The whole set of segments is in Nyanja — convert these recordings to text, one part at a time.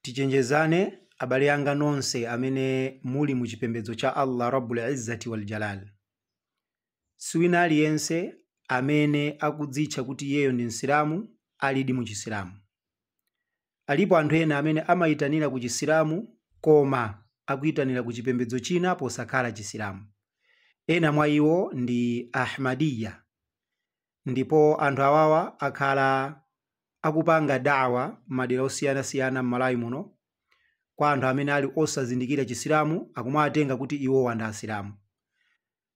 tichenjezane abale anga nonse amene muli mu chipembedzo cha allah rabbul izzati wal jalal siwina aliyense amene akudzitcha kuti iyeyo ndi msilamu alidi mu chisilamu alipo anthu ena amene amayitanira ku chisilamu koma akuyitanira ku chipembedzo china posakhala chisilamu ena mwa iwo ndi ahmadiya Ndipo anthu awawa akhala akupanga da'wah m'madera osiyanasiyana m'Malawi muno kwa anthu amene ali osazindikira chisilamu akumawatenga kuti iwowa ndi asilamu.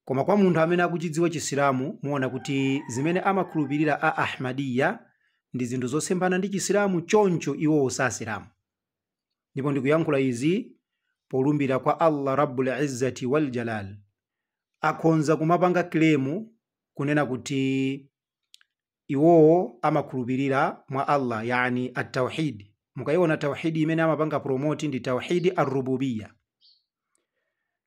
Koma kwa munthu amene akuchidziwa chisilamu muona kuti zimene amakhulupirira a Ahmadiyyah ndi zinthu zosemphana ndi chisilamu choncho iwowo si asilamu. Ndipo ndikuyankhula izi polumbira kwa Allah Rabbul Izzati wal Jalaal. Akhonza kumapanga claim kunena kuti iwowo amakhulupirira mwa Allah yani at-tauhid mukaiona tauhidi imene amapanga promote ndi tauhidi ar-rububiyya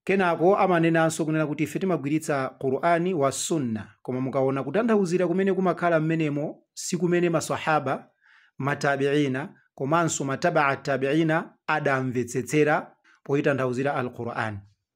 kenako amanenanso kunena kuti ife timagwiritsa Qur'ani wa sunna koma mukaona kutanthauzira kumene kumakhala mmenemo si kumene maswahaba matabiina komanso matabaa tabiina adamvetsetsera poitanthauzira al-Qur'an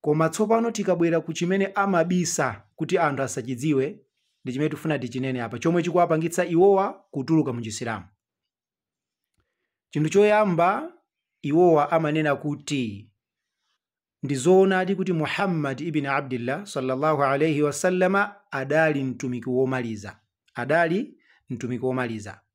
Koma tsopano tikabwera ku chimene amabisa kuti anthu asachidziwe, ndi chimene tikufuna tichinene apa, chomwe chikuwapangitsa iwowa kutuluka mu Chisilamu. Chinthu choyamba, iwowa amanena kuti ndi zoonadi kuti Muhammad ibn Abdillah sallallahu alaihi wasallama adali mtumiki womaliza, adali mtumiki womaliza.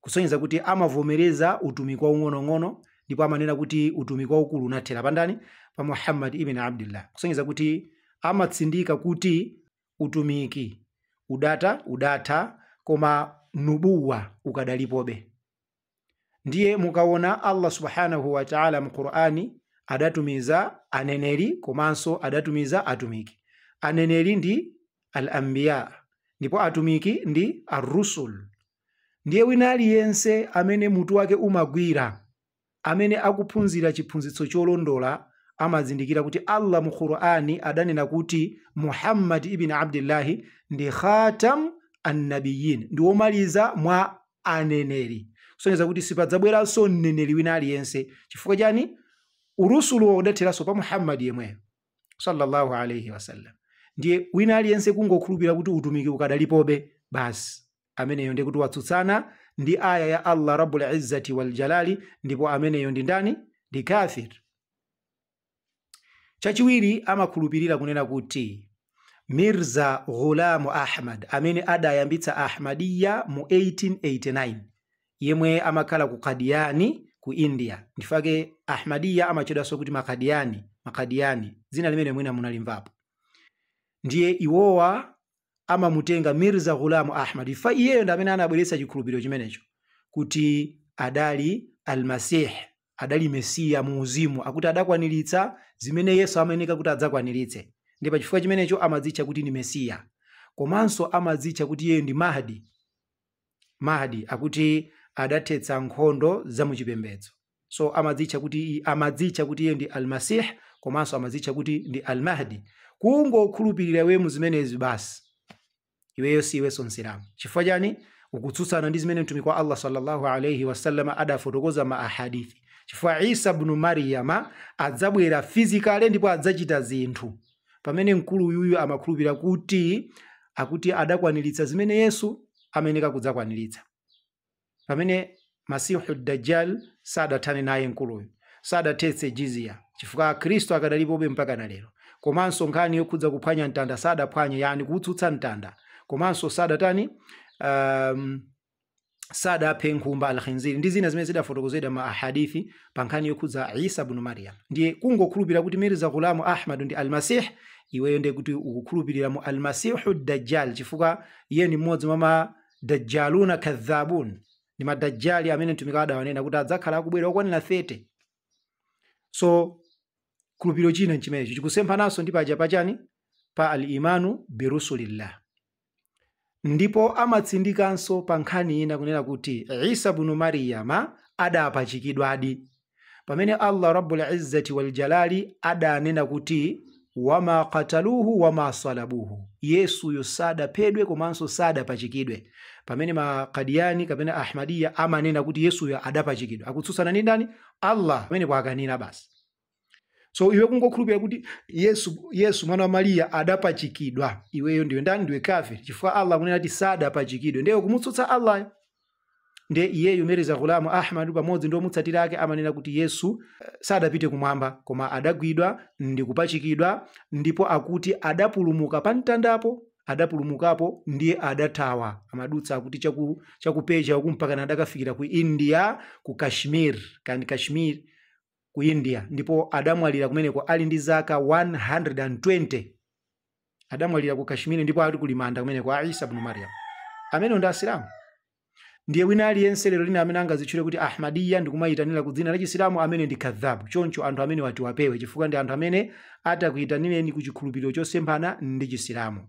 kusonyeza kuti amavomereza utumiki waung'onong'ono ndipo amanena kuti utumiki waukulu unathera pandani pa muhammad ibn abdillah kusonyeza kuti amatsindika kuti utumiki udata udatha koma nubuwa ukadalipobe ndiye mukaona allah subhanahu wataala mu qur'ani adatumiza aneneri komanso adatumiza atumiki aneneri ndi al ambiya ndipo atumiki ndi arrusul Ndiye wina aliyense amene mutu wake umagwira, amene akuphunzira chiphunzitso cholondola, amazindikira kuti Allah mu Qur'an adanena kuti Muhammad ibn Abdillah ndi khatam an-nabiyyin, ndi womaliza mwa aneneri. Kusonyeza kuti sipadzabweranso mneneri wina aliyense. Chifukwa chani? Urusuluwo udatheranso pa Muhammad yemweyo sallallahu alaihi wasallam. Ndiye wina aliyense kungokhulupirira kuti utumiki ukadalipobe basi. ameneyo ndiye kuti watsutsana ndi aya ya allah rabbul izzati wal jalali ndipo ameneyo ndi ndani ndi kafir chachiwiri amakhulupirira kunena kuti mirza ghulamu ahmad amene adayambitsa ahmadiya mu 1889 yemwe amakhala ku kadiyani ku india ndifake ahmadiya amatchedwanso kuti makadiyani makadiyani dzina limene mwina munalimvapo ndiye iwowa amamutenga Mirza Ghulam Ahmad chifukwa iyeyo ndi amene anabweretsa chikhulupiriro chimenecho kuti adali Al-Masih, adali Mesiya mu uzimu, akuti adakwaniritsa zimene Yesu amayeneka kuti adzakwaniritse. Ndiye pa chifukwa chimenecho amadzitcha kuti ndi Mesiya. Komanso amadzitcha kuti iyeyo ndi Mahdi. Mahdi akuti adathetsa nkhondo za mu chipembedzo. so amadzitcha kuti iye ndi almasih komanso amadzitcha kuti ndi almahdi kungokhulupirira iwe mu zimenezi basi iweyo si iwenso msilamu chifukwa chani ukutsutsana ndi zimene mtumiki wa allah sallallahu alaihi wasallam adafotokoza ma ahadithi chifukwa isa bnu mariyama adzabwera physically ndipo adzachita zinthu pamene mkulu uyuyu amakhulupirira kuti akuti adakwaniritsa zimene yesu amayeneka kudzakwaniritsa pamene masihu dajjal sadathane naye mkuluyu sadathetse jizya chifukwa akhristu akadalipobe mpaka na lero komanso nkhani yokhudza kuphwanya mtanda sadaphwanye yani kuutsutsa mtanda komanso sadatani um, sadaphe nkhumba alkhinziri ndi zina zimene zidafotokozedwa ma ahadithi pa nkhani yokhudza isa bnu maryam ndiye kungokhulupirira kuti mirza ghulamu ahmadu ndi almasih iweyo ndiye kuti ukukhulupirira mu almasihu dajjal chifukwa iye ni mmodzi mwa ma dajjaluna kadhabun ndi madajjali amene mtumiki adawanena kuti adzakhala akubwera okwanira 30 so khulupiriro china nchimenecho chikusemphananso ndi paja pachani pa al-imanu birusulillah ndipo amatsindikanso pa nkhani ina kunena kuti isa bnu mariyama adapachikidwadi pamene allah rabbul izzati waljalali adanena kuti wama kataluhu wama salabuhu yesuyo sadaphedwe komanso sadapachikidwe pamene makadiyani kapena ahmadiya amanena kuti yesuyo adapachikidwa akutsutsana ndi ndani allah pamenepo kwakwanira basi so iwe kungokhulupirira kuti yesu yesu mwana wa mariya adapachikidwa iweyo ndiwe ndani ndiwe kafiri chifukwa allah akunena kuti sadapachikidwe ndiye kumutsutsa allah ndiye iyeyu mirza ghulam ahmad pamodzi ndi omutsatira ake amanena kuti yesu eh, sadapite kumwamba koma adagwidwa ndi kupachikidwa ndipo akuti adapulumuka pa mtandapo adapulumukapo ndiye adathawa amadutsa akuti chaku, chaku persia uku mpakana adakafikira ku india ku kashmir kandi kashmir ku india ndipo adamwalira kumeneko ali ndi zaka 120 adamwalira ku kashmiri ndipo ati kuli manda kumeneko a isa bnu mariam amenewo ndi asilamu ndiye wina aliyense lerolino amene angadzitchule kuti ahmadiya ndikumayitanira ku dzina la chisilamu amene ndi kadhabu, choncho anthu amenewa tiwapewe chifukwa ndi anthu amene atakuyitanireni ku chikhulupiriro chosemphana ndi chisilamu